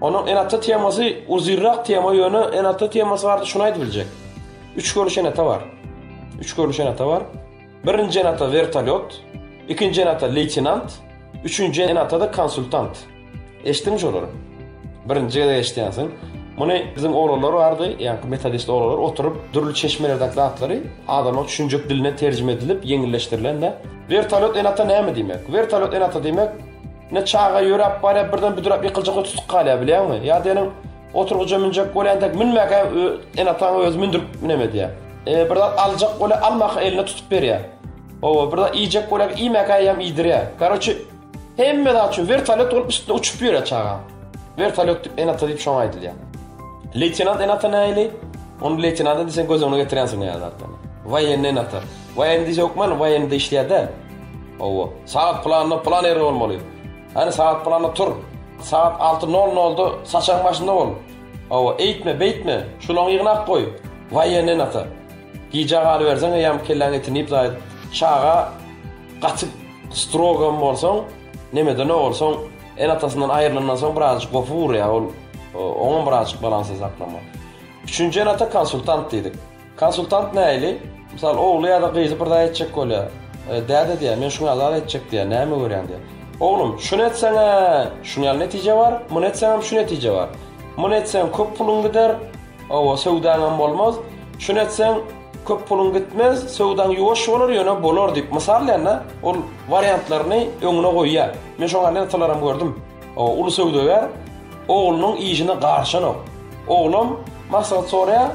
Onuň Enata temasy uzyrrak tema ýöne Enata temasy barada şuny aýdyp biljek. Üç görnüş Enata bar. Üç görnüş Enata bar. Birinji Enata wertolýot, ikinji Enata leýtenant, üçünji Enata-da konsultant. Eşitdiňmi şolary? Birinji gezek eşidýänsiň. Muny biziň oglanlar bardy, ýaňky metodist oglanlar oturyp dürli çeşmelerdäki zatlary adamlaryň düşünjek diline terjime edilip ýeňilleşdirilende. Wertolýot Enata näme diýmek? Wertolýot Enata diýmek, Ine, çaga ýöräp barýar, birden büdräp ýykyljak we tutuk galýar, bilýäňmi? Ýa diýeniň, oturgyja münjek bolýan dek, münmäge ene-ataň özi mündürip nemedýär. E, bir zat aljak bolýar, almaka eline tutup berýär. Hawa, bir zat iýjek bolýar, iýmäge eýýäm iýdirýär. Karoçi, hemme zat üçin wertolýot bolup üstünde uçup ýörýär çaga. Wertolýot diýip ene-ata diýip şoňa aýdylýar. Leýtenant ene-ata nähili? Ony leýtenant diýseň göz öňüne getirýänsiň näme zatlary. Woýenni ene-ata. Waýendi hökman waýende işleýär däl. Hawa, sagat pylanda pylan ýerde bolmaly. Hany sagat pylanda tur. Sagat alty nol nolda saçagyň başynda bol. Hawa, eýtme, beýtme, şulaňy ýygnap goý. Waýen enata. Gijä galyberseň eýýäm kelläň etini iýip zaýat. Çaga gaty strogam bolsaň, nemedene bolsaň, enatasyndan aýrylandan soň birazajyk gopy urýar, ol oňam birazajyk balansy saklamaly. Üçünji enata konsultant diýdik. Konsultant nähili? Mysal, ogly ýa-da gyzy bir zat etjek bolýar. Däde diýýär, men şuňa zat etjek diýýär, näme görýäň diýýär. Oglum, şuny etseň-ä, şuň ýaly netije bar, muny etseňem şu netije bar. Muny etseň köp puluň gider, hawa, söwdaňam bolmaz. Şuny etseň köp puluň gitmez, söwdaň ýuwaş bolar, ýöne bolar diýip mysallaýanda, ol wariantlaryny öňüne goýýar. Men şoňa nätalaram gördüm. Hawa, uly söwdagär oglunyň işine garşanok. Oglam maslahat soraýar,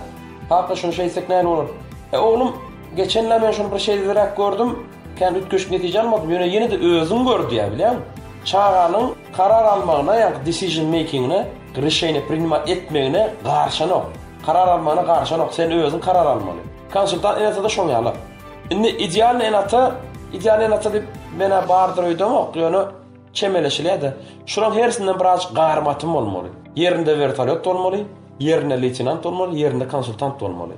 Kaka, şuny şeý etsek näl bolar? E, oglum, geçen-le men şuny bir şeýleräk gördüm, kän üýtgeşik netije almadym, ýöne ýene-de özüň gör diýýär, bilýäňmi? Çaganyň karar almagyna, ýagny decision making-ine, rişeniýe prinimat etmegine garşanok. Karar almagyna garşanok, sen özüň karar almaly. Konsultant ene-ata-da şoň ýaly. Indi idealnyý ene-ata, idealnyý ene-ata diýip men-ä bardyr öýdemok, ýöne çemeleşilýär-de. Şularyň hersinden birazajyk garym-atym bolmaly. Ýerinde wertolýot bolmaly. Ýerinde leýtenant bolmaly, ýerinde konsultant bolmaly.